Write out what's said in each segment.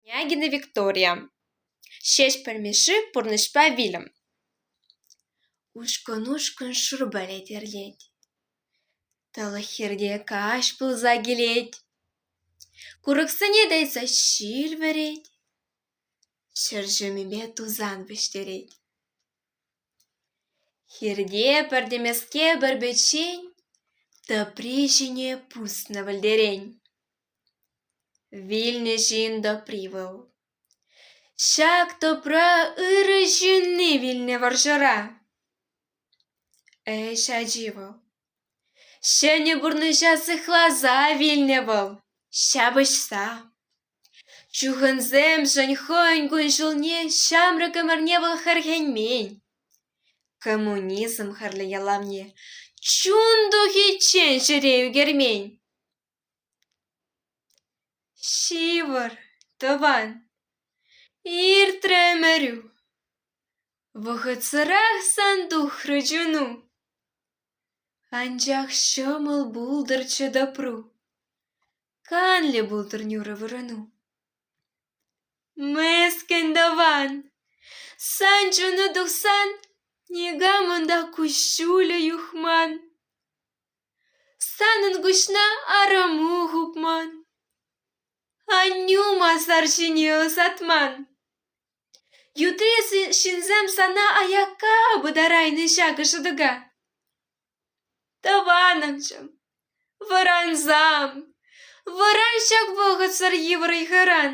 княгиня виктория ҫеҫпӗл мишши пурнӑҫпа вилӗм ушкӑн-ушкӑн шурпале терлет тӑлӑх хирте каҫ пулса килет курӑксене тытса ҫил вӗрет ҫӗр ҫумӗпе тусан вӗҫтерет хирте пӗртемеске пӗр печен тӑпри ҫине пуснӑ пӗлтерен Вилнӗ ҫын тӑпри вӑл. Ҫак тӑпра ырӑ ҫынни вилнӗ вӑрҫӑра. Ӗҫ ачи вӑл. Ҫӗнӗ пурнӑҫа сыхласа вилнӗ вӑл, ҫапӑҫса. Чухӑнсемшӗн хӑйӗн кун-ҫулне ҫамрӑк ӗмӗрне вӑл хӗрхенмен. Коммунизм хӗрлӗ ялавне чун тухиччен ҫӗре ӳкермен. Ҫывӑр, тӑван, иртрӗ ӗмӗрӳ, Вӑхӑтсӑрах сан тухрӗ чуну. Анчах ҫӑмӑл пултӑрччӗ допру, Канлӗ пултӑр нӳрӗ вырӑну. Мӗскӗн тӑван, сан чуну тухсан, Никам унта куҫҫулӗ юхман. Санӑн куҫна арӑму хупман, аннӳ масар ҫине ӑсатман. Ютри ҫынсем сана аякка пытарайнӑ ҫакӑ шӑтӑка. Тӑванӑмчӑм, вӑрансам, вӑран ҫак вӑхӑтсӑр йывӑр ыйхӑран.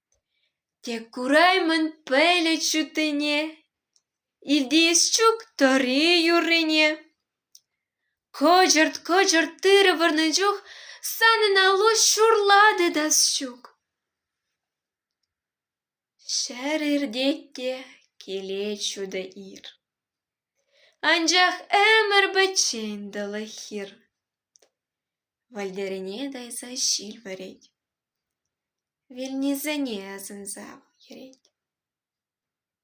Тек кураймӑн пӗлӗт ҫуттине, Илтес ҫук тӑри юррине. Кӑчӑрт-кӑчӑрт тырӑ вырнӑ чух Санӑн алу ҫурлатӗ та ҫук. Ҫӗр иртет те килет ҫутӑ ир, Анчах ӗмӗр пӗччен тӑлӑх хир. Вӗлтӗрӗне тӑйса ҫил вӗрет. Вилнисене асӑнса йӗрет.